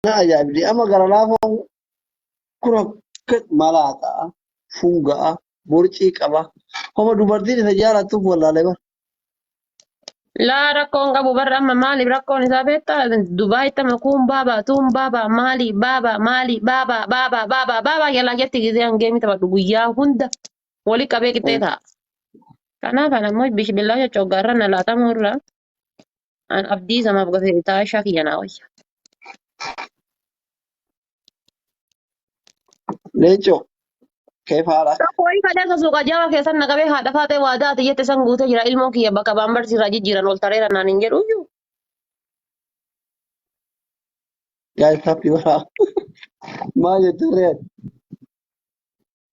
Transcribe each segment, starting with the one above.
na ajaa'ibdi amma gara laafaa kun akka malaataa fuugaa borcii qaba homa dubartiin isa jaalattuuf wallaalee bara Laa rakkoon qabu barra amma maaliif rakkoon isaa beektaa Dubaayitti amma kuun baabaa tuun baabaa maali baabaa maali baabaa baabaa baabaa baabaa jalaa jetti gisee hangee mita badhu guyyaa hunda wali qabee qixxee ta'a. Kanaaf ana immoo bishbillaa coccoggaarra na laatamuu irra An abdii samaaf gafee taashaa kiyya naa wayya. Leencoo keef haadha. Tokko wayii kadhee sasuu qajaawaa keessan na qabee haadha faaxee waadaa ati jette san guutee jira ilmoon kiyya bakka baambarsi irraa jijjiiran ol tareera naan hin jedhu iyyuu. Gaa'eef happy waraa. Maal jettu re'een?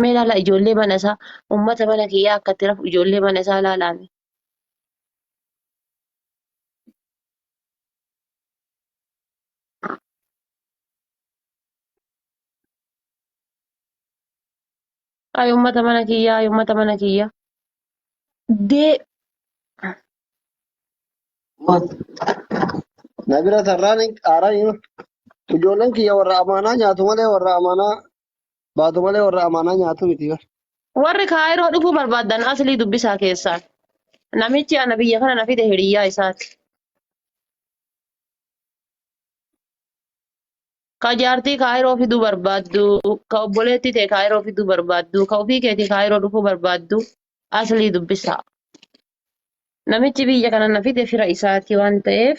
Mee ilaala ijoollee mana isaa ummata mana kiyyaa akka itti rafu ijoollee mana isaa ilaalaame. Ay ummata mana kiyyaa ay ummata mana kiyyaa. Dee Na bira tarraan haaraa hima. Ijoolleen kiyya warra amaanaa nyaatu malee warra amaanaa baatu malee warra amaanaa nyaatu miti bar. Warri Kaayiroo dhufuu barbaadan aslii dubbisaa keessaan. Namichi ana biyya kana na fide hiriyyaa isaati. Ka jaartii Kaayiroo fiduu barbaaddu, ka obboleettii tee Kaayiroo fiduu barbaaddu, ka ofii keetii Kaayiroo dhufuu barbaaddu aslii dubbisaa. Namichi biyya kana na fide fira isaati waan ta'eef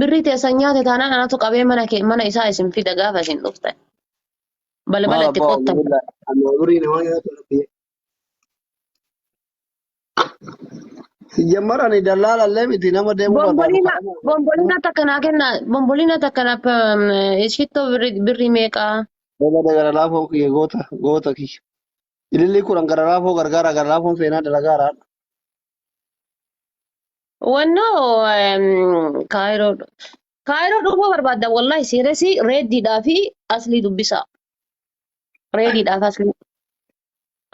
Birrii teessan nyaate taanaan anatu qabee mana kee mana isaa isin fida gaafa isin dhuftan. Balbala Maal itti abbaa qottan. Abdullah amma umurii namaa nyaatu rabbi. Siyyamar ani dallaala illee miti nama deemuu barbaadu Bombolina, kadhama. bombolina takka naa kenna, bombolina takka naa pe- shittoo birri, birri meeqa? Dabada gara laafoo kiyya goota goota kiyya. Ilillii kudhan gara laafoo gargaara gara laafoon seenaa dalagaara. Wanno kaayiroo kaayiroo dhufuu barbaadda wallahi siiresi reeddiidhaa fi aslii dubbisaa. Reediidhaaf aslii.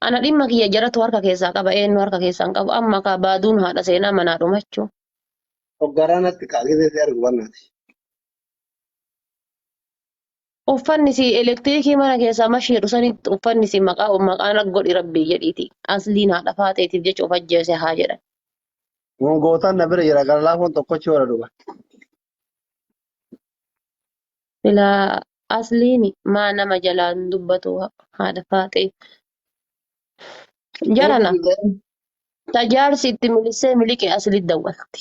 Ana dhimma kiyya jaratu harka keessaa qaba eenyu harka keessaa hin qabu amma kaa baaduun haadha seenaa manaa dhumachuu. Hoggaraa natti kaa gisee si argu bannaati. Uffanni si elektirikii mana keessaa mashi jedhu sanitti uffanni si maqaa maqaan godhi rabbii jedhiiti. Asliin haadha faaxeetiif jecha of ajjeese haa jedhan. Kun gootaan na bira jira gara laafoon tokkochi warra dhuga. Silaa asliin maa nama jalaan dubbatu haadha faaxee. Jarana ta jaarsi itti milissee miliqe asli dawwalti.